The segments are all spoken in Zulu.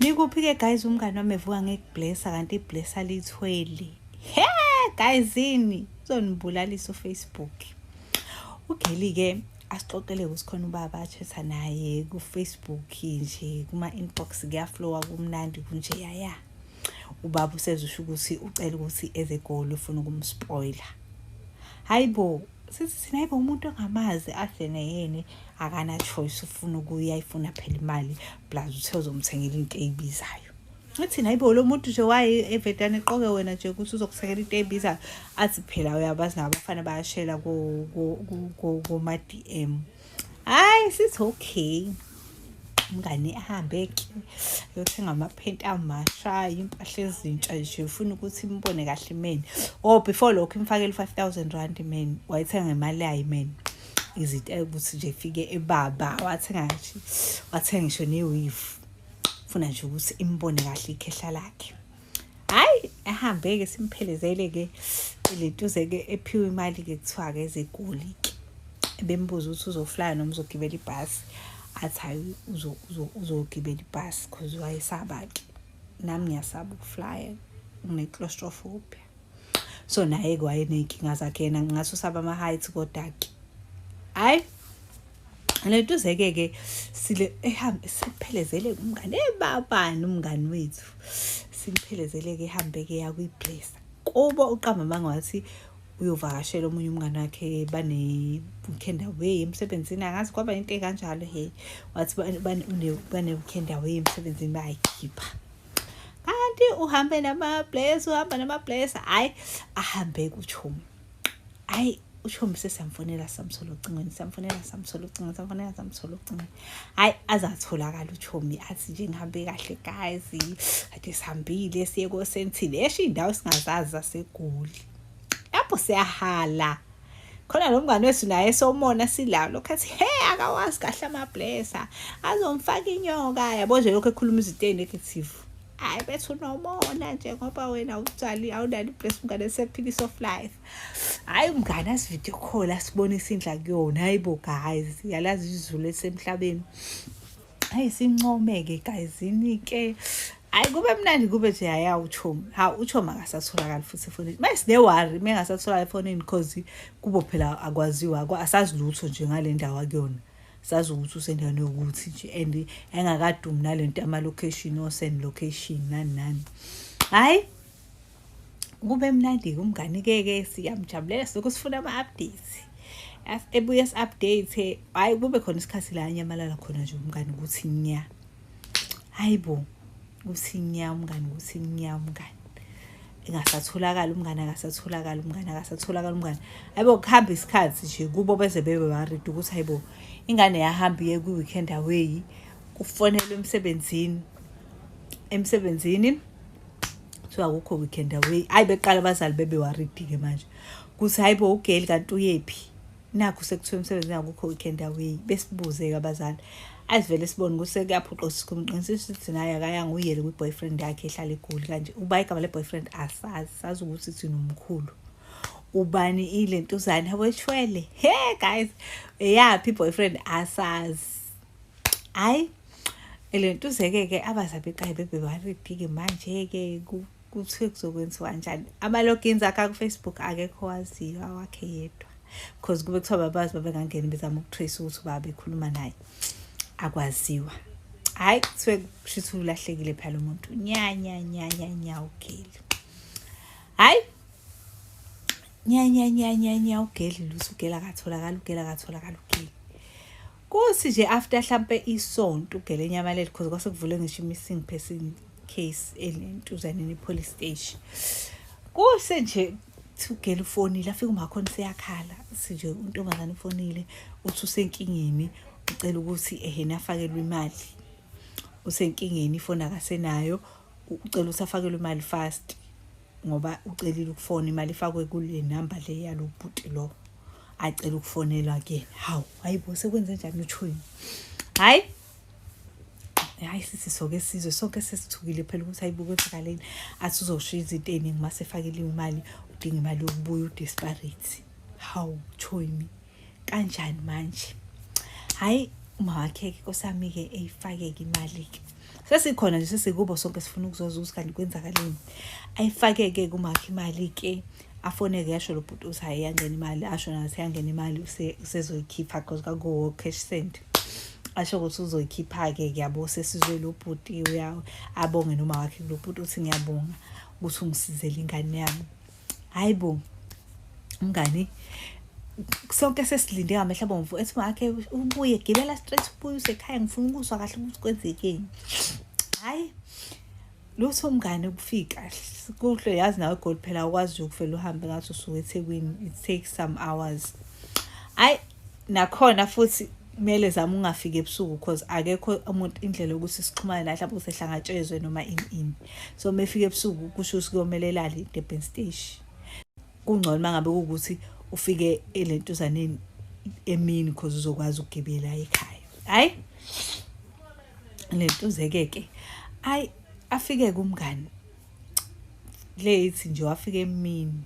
nikuphi ke guys umngane wami evuka ngekublessa kanti iblessa lithweli he guys ini uzonibulalisa ufacebook ugeli ke asixoxele ukuthi khona ubaba athetha naye kufacebook nje kuma-inbox kuyaflowa kumnandi kunje yaya ubaba usezusho ukuthi ucela ukuthi eze egoli ufuna ukumspoiler hayi bo sithi thina hayi bo umuntu ongamazi adle neyene akana choice ufuna ukuya ifuna phela imali plus uthe uzomthengela into eyibizayo uthini hayibo lo muntu nje waye evedane eqoke wena nje ukuthi uzokusekela into ebizayo athi phela uyabazi nabo abafana bayashela kuma-d m hhayi sithi okay umngane ahambe ke yothenga amaphenti amasha impahla ezintsha nje ufuna ukuthi imbone kahle imeni or oh, before lokho imfakele u-five thousand rand imeni wayithenga ngemali yayo imeni izinto ukuthi nje fike ebaba wathenga nje wathenga ngisho neweave funa nje ukuthi imbone kahle ikhehla lakhe hayi ehambe-ke simphelezele-ke lentuze-ke ephiwe imali-ke kuthiwa-ke ezegoli-ke bembuza ukuthi uzoflaya noma uzogibela ibhasi athi hayi uzogibela ibhasi cause wayesaba-ke nami ngiyasaba ukuflaya ngine-claustrophobia so naye ke wayeney'nkinga zakhe yena ngingathi usaba ama-height kodwa-ke hhayi lentuzeke-ke sile ehambe siphelezele umngane ebabani umngani wethu simphelezele-ke ehambe-ke yakwiblesa kubo uqamba amanga wathi uyovakashela omunye umngane wakhe banewukenda way emsebenzini angazi kwaba into ekanjalo he wathi banewukenda way emsebenzini bayayikhipha kanti uhambe namablesi uhamba namablesi hhayi ahambe kutshomi hhayi utshomi sesamfonela samthola ocingweni samfonela samthola ocingweni samfonela samthola ocingweni hhayi aze atholakala utshomi athi nje ngihambe kahle guys kade sihambile siye kosentile esho iy'ndawo singazazi zasegoli lapho siyahala khona lo mngane wethu naye somona silawo lokhu athi he akawazi kahle amablesa azomfaka inyoka yabo nje lokhu ekhuluma izinto eyi-negative hayi bethi unomona nje ngoba wena awutshali awunani iblesa umngane sephilisa of life hhayi umngane asividiyo khola sibonisa indla kuyona hayi bo guys yalazi izulu elisemhlabeni Hayi sincome ke guys yini ke hayi kube mnandi kube nje haya uchomi ha uchomi akasatholakali futhi efonini uma sine worry uma engasatholakali efonini because kubo phela akwaziwa asazi lutho nje ngale ndawo akuyona sazi ukuthi usendaweni yokuthi nje and engakadumi nale nto yama-location osend location nani nani hhayi kube mnandi kumngani-keke siyamjabulela soke sifuna ama-updates ebuye si-update hhayi kube khona isikhathi la anyamalala khona nje umngani ukuthi nya hayi bo ukuthi nya umngani ukuthi nya umngani engasatholakali umngane akasatholakali umngane akasatholakali umngane ayibo kuhamba isikhathi nje kubo beze bebe worried ukuthi hayibo ingane yahamba iye kwi-weekend away kufonelwe emsebenzini emsebenzini kuthiwa akukho weekend away hayi beqala abazali bebewaridi-ke manje kuthi hayi bo ugeli kanti uyephi nakho sekuthiwa emsebenzini akukho weekend away besibuze-ke abazali asivele sibone ukuthi sekuyaphuqa sikumqinisisa ukuthi naye akayanga uyele kwi-boyfriend yakhe ehlala egoli kanje uba igama le-boyfriend asazi sazi ukuthi thina umkhulu ubani ile ntuzane yabo eshwele he guys eyaphi i-boyfriend asazi hayi le ntuzeke-ke abazabeqaye bebewaredi-ke manje-ke kuthiwe kuzokwenziwa njani ama-logins akhe akufacebook akekho waziyo awakhe yedwa because kube kuthiwa babazi babengangeni bezama ukutrace ukuthi uba bekhuluma naye akwaziwa hhayi kuthiwe kushuthi ulahlekile phela lo muntu nyanyanyanyanya ugeli hhayi nyanyanyanyanya ugeli luthi ugeli akatholakali ugeli akatholakali ugeli Kosi nje after hlampe isonto ugele nyamalele because kwase kuvule ngisho missing person case entuzaneni police station. Kuse nje ugele ufonile afike umakhona seyakhala sinje untombazane ufonile uthi usenkingeni ucela ukuthi ehena afakelwe imali usenkingeni ifoni akasenayo ucela ukuthi afakelwe imali fast ngoba ucelile ukufona imali ifakwe kule number le yalo bhuti lo acela ukufonelwa kuyena hawu hayi bo sekwenze njani uthweni hayi hayi sisi soke sizwe sonke sesithukile phela ukuthi hayi bukwenzakaleni athi uzoshiya izinto ey'ningi uma sefakeliwe imali udinga imali yokubuya udesperate hawu choyimi kanjani manje hayi uma wakhe-ke kosami-ke eyifake-ke imali-ke sesikhona nje sesikubo sonke sifuna ukuzoza ukuthi kanti kwenzakaleni ayifake-ke kumakhe imali-ke afone ke yasho lo bhuti uthi hayi yangena imali asho nathi yangena imali usezoyikhipha because kakuwo cash send asho ukuthi uzoyikhipha-ke kuyabo sesizwe lo bhuti abonge noma wakhe lo bhuti uthi ngiyabonga ukuthi ungisizele ingane yami hayi bo umngani sonke sesilinde ngamehla abomvu ethi makhe ubuye gibela straight ubuye usekhaya ngifuna ukuzwa kahle ukuthi kwenzekeni hhayi lutho mngane ukufika kuhle yazi nawe gold phela ukwazi ukuvela uhambe ngathi usuke ethekwini it takes some hours ayi nakhona futhi kumele zama ungafiki ebusuku because akekho umuntu indlela yokuthi sixhumane naye mhlawumbe usehlangatshezwe noma ini ini so uma efika ebusuku kusho ukuthi kuyomele elale idebhen stage kungcono uma ngabe kuwukuthi ufike elentuzaneni emini because uzokwazi ukugibela ekhaya hhayi lentuzekeke ayi afike kumngani le ithi nje wafika emini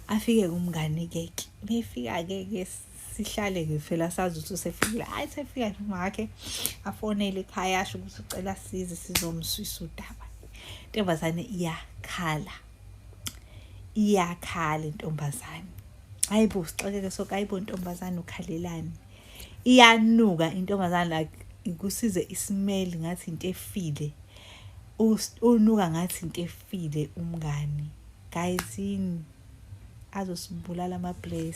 afike kumngani ke befika ke ke sihlale ke phela sazi ukuthi usefikile hayi sefika nje makhe afonele ekhaya asho ukuthi ucela size sizomswisa udaba intombazane iyakhala iyakhala intombazane hayibo sixakeke soke hayibo ntombazane ukhalelani iyanuka intombazane like ikusize isimeli ngathi into efile unuka ngathi into efile umngani guys yini azosibulala ama-place